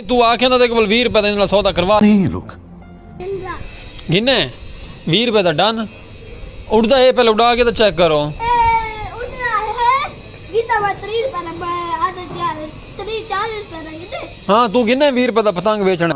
تو آکھیں دا دیکھ بول 20 روپے دا انہاں سودا کروا نہیں لوک گھنے 20 روپے دا ڈن اڑدا ہے پہلے اڑا کے تے چیک کرو ہاں تو گھنے 20 روپے دا پتنگ بیچنا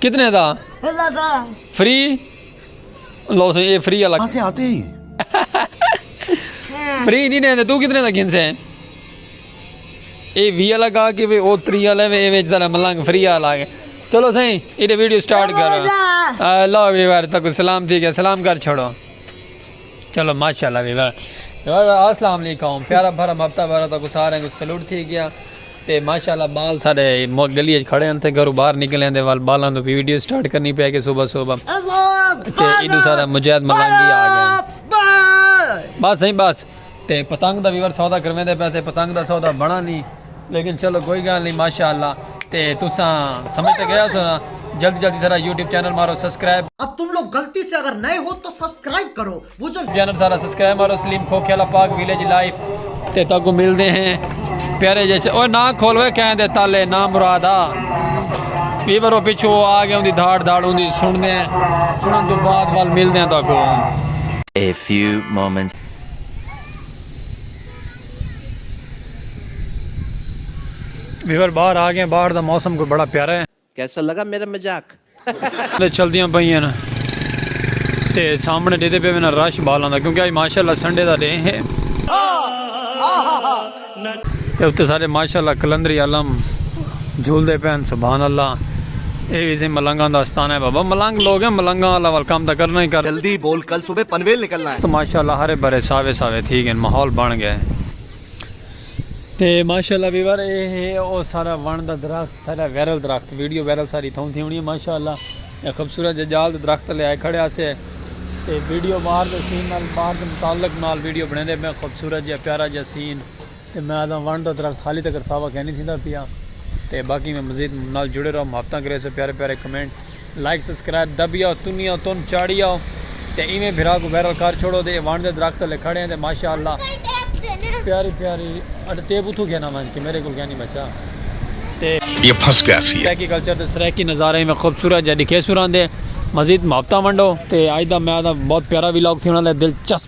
کتنے دا فری لو سو یہ فری والا سے آتے ہی فری نہیں رہتے تو کتنے دا گھن سے اے وی والا گا کہ وے او تری والا وے وچ ذرا ملنگ فری والا آ گئے چلو سہی یہ ویڈیو سٹارٹ کرو اللہ ویوار تک سلام تھی گیا سلام کر چھوڑو چلو ماشاءاللہ وی وا اسلام علیکم پیارا بھرا مفتا بھرا تو سارے کو سلوٹ تھی گیا تے ماشاءاللہ بال سارے گلی اچ کھڑے ہیں تے گھرو باہر نکلے ہیں تے وال بالاں تو ویڈیو سٹارٹ کرنی پے کے صبح صبح تے ایڈو سارا مجاہد ملنگی آ گیا بس نہیں بس تے پتنگ دا ویور سودا کرویں دے پیسے پتنگ دا سودا بنا نہیں لیکن چلو کوئی گال نہیں ماشاءاللہ تے تساں سمجھ تے گیا سو نا جلدی جلدی سارا یوٹیوب چینل مارو سبسکرائب اب تم لوگ غلطی سے اگر نئے ہو تو سبسکرائب کرو وہ جو چینل سارا سبسکرائب مارو سلیم کھوکھے والا پاک ویلیج لائف تے تاکو مل دے ہیں پیارے جیسے اوہ نا کھولوے کہیں دے تالے نا مرادا یہ برو پیچھو آ گیا ہوں دی دھاڑ دھاڑ ہوں دی سن دے ہیں سنن تو بعد وال مل دے ہیں تاکو A few moments ویور باہر آ گئے باہر دا موسم کوئی بڑا پیارا ہے۔ کیسا لگا میرا مذاق۔ چلدیاں پئیاں نا تے سامنے ڈیدے پے وینا رش بالاں دا کیونکہ اج ماشاءاللہ سنڈے دا ڈے ہے تے اتے سارے ماشاءاللہ قلندری عالم جھول دے پین سبحان اللہ اے وی سی ملنگاں دا استانہ ہے بابا ملنگ لوگ ہیں ملنگاں والا ول کم تاں کرنا ہی کرنا۔ جلدی بول کل صبح پنویل نکلنا ہے۔ تو ماشاءاللہ ہرے بھرے ساوے ساوے تھی گئن ماحول بن گئے۔ تے ماشاءاللہ ویور اے ہے او سارا ون دا درخت سارا ویرل درخت ویڈیو ویرل ساری تھاؤں تھی ہونی ہے ماشاءاللہ اے خبصورت جے جال دے درخت لے آئے کھڑے آسے تے ویڈیو باہر دے سین نال باہر دے متعلق نال ویڈیو بنے دے میں خبصورت جے پیارا جے سین تے میں آہداں ونڑ دا درخت حالی تکر ساوا کینی تھیندا پیا تے باقی میں مزید نال جڑے رہو محبتاں کریسو پیارے پیارے کمنٹ لائک سبسکرائب دبی آؤ تنی آؤ تن چاڑی آؤ تے ایویں بھرا کوں وائرل کر چھوڑو تے اے ونڑ دے درخت تلے کھڑے ہیں تے ماشاءاللہ پیاری پیاری اڈ ٹیپ اتھوں گھنا ونج کے میرے کول کینی بچا تے یہ پھنس گیا سی سرائیکی کلچر تے سرائیکی نظارے میں خوبصورت جا ڈکھیسو راندے مزید محبتاں ونڈو تے آہداں میں آہداں بہت پیارا ویلاگ تھی انہاں لے دلچسپ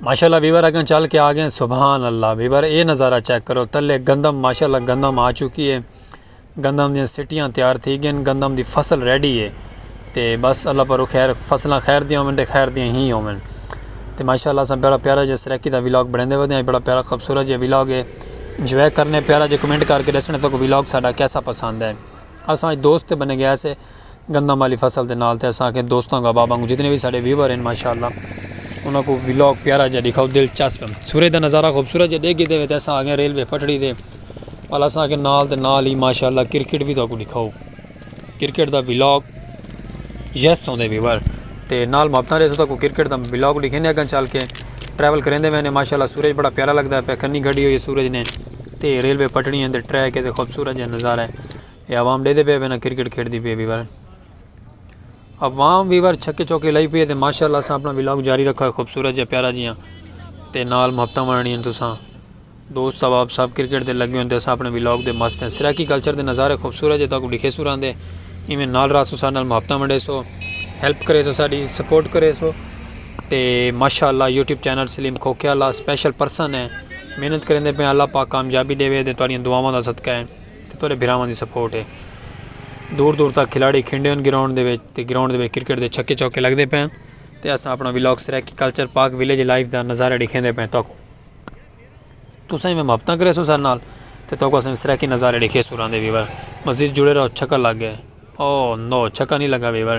ماشاءاللہ ویور اگن چل کے آگئے سبحان اللہ ویور اے نظارہ چیک کرو تلے گندم ماشاءاللہ گندم آ چکی ہے گندم دیاں سٹیاں تیار تھی گئے گندم دی فصل ریڈی ہے تے بس اللہ پرو خیر فصلہ خیر دیاں ہومن تے خیر دیاں ہی ہومن تے ماشاءاللہ سن بڑا پیارا جے سریکی دا ویلاگ بڑھنے ودے ہیں بڑا پیارا خوبصورت جے ویلاگ ہے جوے کرنے پیارا جے کمنٹ کر کے دسنے تو کو ویلاگ ساڑا کیسا پسند ہے اساں دوست بنے گیا سے گندم والی فصل دے نال تے اساں آکھیں دوستاں کو احباباں کو جتنے وی ساڈے ویور ہن ماشاءاللہ انہاں کو ولاگ پیارا جیہا ڈیکھاؤ دلچسپ ہن سورج دا نظارہ خوبصورت جیہا ڈیکھ گھدے وے تے اساں آکھیں ریلوے پٹڑی دے ول اساں آکھیں نال تے نال ہی ماشاءاللہ کرکٹ وی تہاکوں ڈیکھاؤ کرکٹ دا ولاگ یس سوندے ویور تے نال محبتاں ریسوں تہاکوں کرکٹ دا ولاگ ڈیکھینے اگاں چل کے ٹریول کریندے وینے ماشاءاللہ سورج بڑا پیارا لگدا پیا کنی گھڈی ہوئی ہے سورج نے تے ریلوے پٹڑیاں دے ٹریک ہے تے خوبصورت جیہا نظارہ ہے۔ اے عوام ڈیدے پئے بھینا کرکٹ کھیڈ دی پئے بیور عوام بیور چھکے چوکے لائی پئے تے ماشاءاللہ اساں اپنا ولاگ جاری رکھا خوبصورت جے پیارا جیاں تے نال محبتاں ونڑنی ہیں تساں دوست احباب سب کرکٹ دے لگے ہوندے اساں اپنے ولاگ دے مست ہیں سرائیکی کلچر دے نظارے خوبصورت جے تاں کو ڈکھے سوران دے ایویں نال راسو سارے نال محبتاں ونڈے سو ہیلپ کرے سو ساڈی سپورٹ کرے سو تے ماشاءاللہ یوٹیوب چینل سلیم کھوکھے اللہ سپیشل پرسن ہیں محنت کریں دے پہ اللہ پاک کامیابی دے وے دے تواڈیاں دعاواں دا صدقہ ہے تے تہاݙے بھراواں دی سپورٹ اے۔ دور دور تک کھلاڑی کھیݙے ہن گراؤنڈ دے وچ تے گراؤنڈ دے وچ کرکٹ دے چھکے چوکے لڳدے پئے ہن تے اساں اپݨا vlog Saraiki culture Pak village life دا نظارہ ݙیکھیندے پئے تہاکوں تساں ایویں محبتاں کریسو ساݙے نال تے تہاکوں اساں سرائیکی نظارے ݙیکھیسوں راہندے ویور مزید جڑے رہو چھکا لڳ ڳئے او نو چھکا نی لڳا ویور۔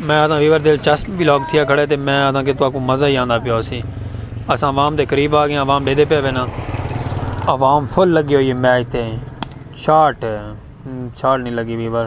میں آدھا ویور دلچسپ بھی لوگ تھیا کھڑے تے میں آدھا کہ تو آپ کو مزہ ہی آندہ پیا ہو سی اسا عوام دے قریب آ گئے ہیں عوام بیدے پہ بینا عوام فل لگی ہوئی ہے میچ تے شارٹ شارٹ نہیں لگی ویور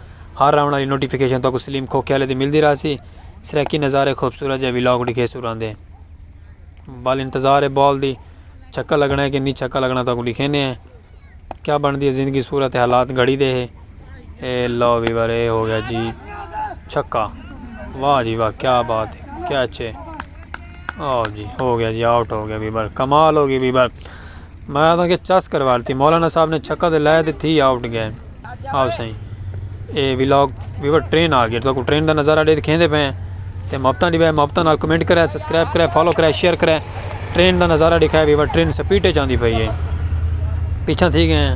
ہر آونڑ آلی نوٹیفکیشن تہاکوں سلیم کھوکھیالے دی ملدی رہسی۔ سرائیکی نظارے خوبصورت جئے ولاگ ڈکھیسوں راندے بال انتظار ہے بال دی چھکا لگنا ہے کہ نی چھکا لگنا تہاکوں ڈکھینے ہیں کیا بندی ہے زندگی صورت حالات گھڑی دے ہے اے لو ویور اے ہو گیا جی چھکا واہ جی واہ کیا بات ہے کیچ ہے آو جی ہو گیا جی آؤٹ ہو گیا ویور کمال ہو گیا ویور میں آدھاں کہ چس کروارتی مولانا صاحب نے چھکا تے لائے تے تھی آؤٹ گئے آؤ سائیں اے ولاگ ویور ٹرین آ گیا تو کوئی ٹرین دا نظارہ ڈے دکھیں دے پئے تے محبتاں ڈی بے محبتاں نال کمنٹ کرے سبسکرائب کرے فالو کرے شیئر کرے ٹرین دا نظارہ دکھائے ویور ٹرین سپیڈ تے جاندی پئی ہے پیچھا تھی گئے ہیں